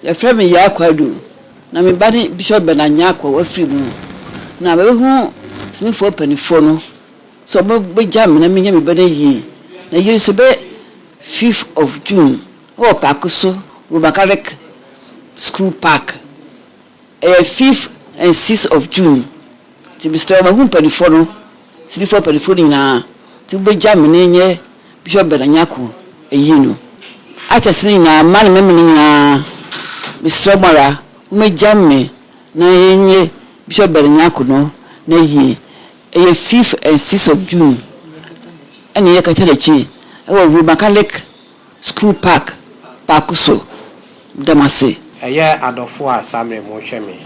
Yɛfrɛ me Yaa Kwadu, na me ba ne Bishop Bernard Nyarko, wafiri mu. Na mabɛhu senifoɔ mpaninfoɔ no sɛ ɔmo bɛgya me na menyɛ me ba no ayie. Na yɛn nso bɛ fifth of June ɛwɔ paako so, Roman Catholic school park. Ɛyɛ fifth and sixth of June nti mesrɛ wo mahu mpanifoɔ no, Cityfoɔ mpanifoɔ no nyinaa nti wobɛgya me ne nyɛ Bishop Bernard Nyarko ayie no. Actors no nyinaa, mmaa ne mmarima no nyinaa mesrɛ mo ara momɛgya me na yɛnyɛ Bishop Bernard Nyarko no n'ayie. Ɛyɛ fifth and sixth of June ɛna ɛyɛ Katanakyie ɛwɔ Roma Catholic School park baako so dam ase. Ɛyɛ adɔfoɔ a samre mo hwɛ me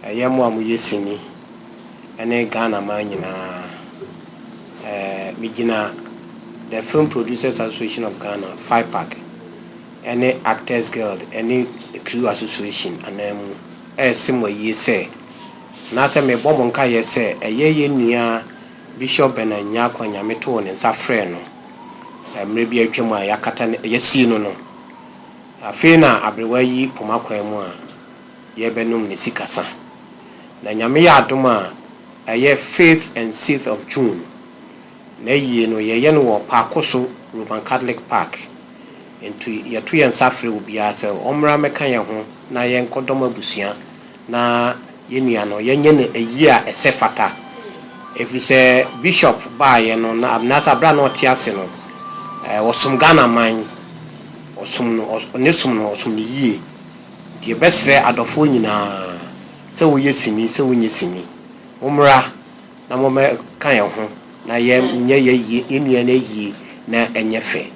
ɛyɛ mo a mo yɛ sini ɛne Ghana man nyinaa ɛɛ me gyina the film producers association of Ghana Fipac ɛne actors guild ɛne crew association anan mu ɛɛse mo ayie sɛ anaasɛ me bɔ mo nkaeɛ sɛ ɛyɛ yɛn nua Bishop Bernard Nyarko Anyame too ne nsa frɛɛ no mmerɛ bi a atwam a yɛakata no, yɛasii no no. Afei na aberewa yi poma kwan mu a yɛrebɛnom ne sikasa. Na Nyame yɛ adom a ɛyɛ fifth and sixth of June. N'ayie no yɛyɛ no wɔ Paakoso Roman Catholic Park. Nti yɛto yɛn nsa frɛ obiara sɛ ɔmmra mmɛka yɛn ho na yɛnkɔdɔm abusua. na yɛn nua no yɛnyɛ no ayie a ɛsɛ fata. Ɛfiri sɛ Bishop baeɛ no na Abinasa berɛ a na ɔte ase no ɔsom Ghana man, ɔsom no ne som no ɔsom no yie. Nti yɛbɛsrɛ adɔfoɔ nyinaa sɛ woyɛ sini sɛ wonyɛ sini mommra na mommɛka yɛn ho na yɛnyɛ yɛn nua no ayie na ɛnyɛ fɛ.